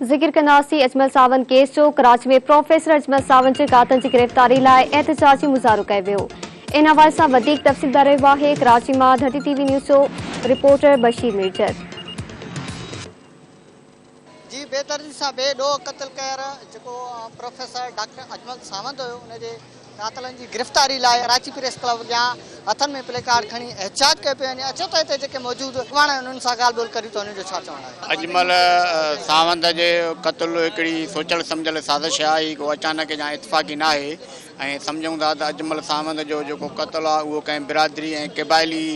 ذڪر ڪنداسين اجمل ساوند ڪيس جو، ڪراچي ۾ پروفيسر اجمل ساوند جي ڪاتن جي گرفتاري لاء احتجاجي مظاهرو ڪيو ويو ان حوالي سان وڌيڪ تفصيل ڏئي رهيو آهي ڪراچي مان ڌرتي ٽي وي نيوز جو رپورٽر بشير ميرجت. جي بي دردي سان بي ڏوهه قتل ڪير جيڪو پروفيسر ڊاڪٽر اجمل ساوند هيو ان جي. قاتلن جي گرفتاري لاء ڪراچي پريس ڪلب اڳيان هٿن ۾ پلي ڪارڊ کڻي احتجاج ڪيو پيو وڃي، اچو ته هتي جيڪي موجود اڳواڻ آهن انهن سان ڳالهه ٻولهه ڪريون ته انهن جو ڇا چوڻ آهي. اجمل ساوند جو قتل هڪڙي سوچيل سمجهيل سازش آهي، هي ڪو اچانڪ يا اتفاقي ناهي ۽ سمجهون ٿا ته اجمل ساوند جو جيڪو قتل آهي اهو ڪنهن برادري ۽ قبائلي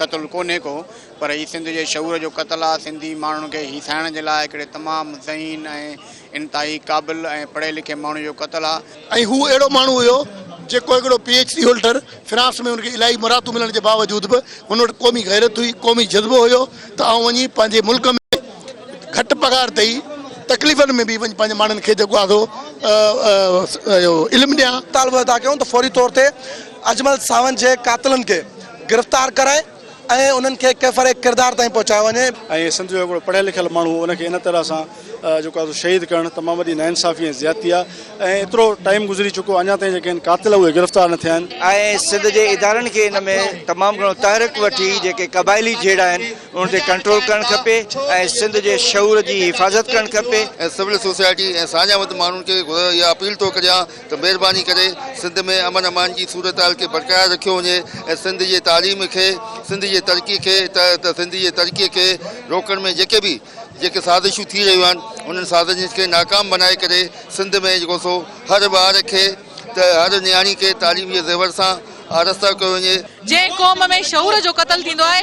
قتل ڪونهي ڪو پر هي سنڌ جي شعور جو قتل آهي، سنڌي ماڻهن کي هيسائڻ جي لاء هڪڙي تمام ذهين ۽ انتهائي قابل ۽ پڙهي لکي ماڻهو جو قتل آ. ۽ هو اهڙو ماڻهو هيو جيڪو هڪڙو P H D holder France ۾ هن کي الاهي مراعتون ملڻ جي باوجود به هن وٽ قومي غيرت هئي قومي جذبو هيو ته آئون وڃي پنهنجي ملڪ ۾ گهٽ پگهار تي ئي تڪليفن ۾ به وڃي پنهنجي ماڻهن کي جيڪو آ سو اهو علم ڏيان. مطالبو ادا ڪيون ته فوري طور تي اجمل ساوند جي قاتلن کي گرفتار ڪرائي. ۽ انهن کي ڪيفر ڪردار تائين پهچايو وڃي. ۽ سنڌ جو هڪڙو پڙهيل لکيل ماڻهو ان کي ان طرح سان جيڪو آهي سو شهيد ڪرڻ تمام وڏي ناانصافي ۽ زيادتي آهي ۽ ايترو ٽائيم گذري چڪو اڃا تائين جيڪي هن قاتل اهي گرفتار نه ٿيا آهن. ۽ سنڌ جي ادارن کي ان ۾ تمام گهڻو تحرڪ وٺي جيڪي قبائلي جهيڙا آهن انهن تي ڪنٽرول ڪرڻ کپي ۽ سنڌ جي شعور جي حفاظت ڪرڻ کپي. ۽ سول سوسائٽي ۽ ساڃاهه وند ماڻهن کي اها اپيل ٿو ڪريان ته مهرباني ڪري سنڌ ۾ امن امان جي صورتحال کي برقرار رکيو وڃي ۽ سنڌ جي تعليم کي سنڌ جي ترقي کي ته ته سنڌ جي ترقي کي روڪڻ ۾ جيڪي به جيڪي سازشون ٿي رهيون آهن انهن سازشن کي ناڪام بنائي ڪري سنڌ ۾ جيڪو سو هر ٻار کي ته هر نياڻي کي تعليم جي زيور سان آراسته ڪيو وڃي. جنهن قوم ۾ شعور جو قتل ٿيندو آهي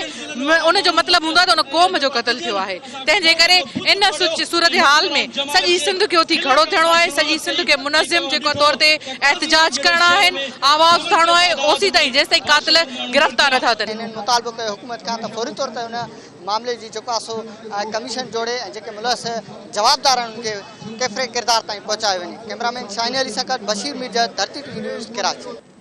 ان جو مطلب هوندو آهي ته ان قوم جو قتل ٿيو آهي تنهن جي ڪري ان صورتحال ۾ سڄي سنڌ کي اٿي کڙو ٿيڻو آهي سڄي سنڌ کي منظم جيڪو طور تي احتجاج ڪرڻا آهن آواز اٿارڻو آهي اوسي تائين جيستائين قاتل گرفتار نه ٿا ٿين. هنن مطالبو ڪيو حڪومت کان ته فوري طور تي ان معاملي جي جيڪو آهي سو ڪميشن جوڙي ۽ جيڪي ملوث جوابدار آهن انهن کي ڪيفري ڪردار تائين پهچايو وڃي ڪئميرا مين شاهين علي سان گڏ Bashir Mirjhar Dharti T V news Karachi.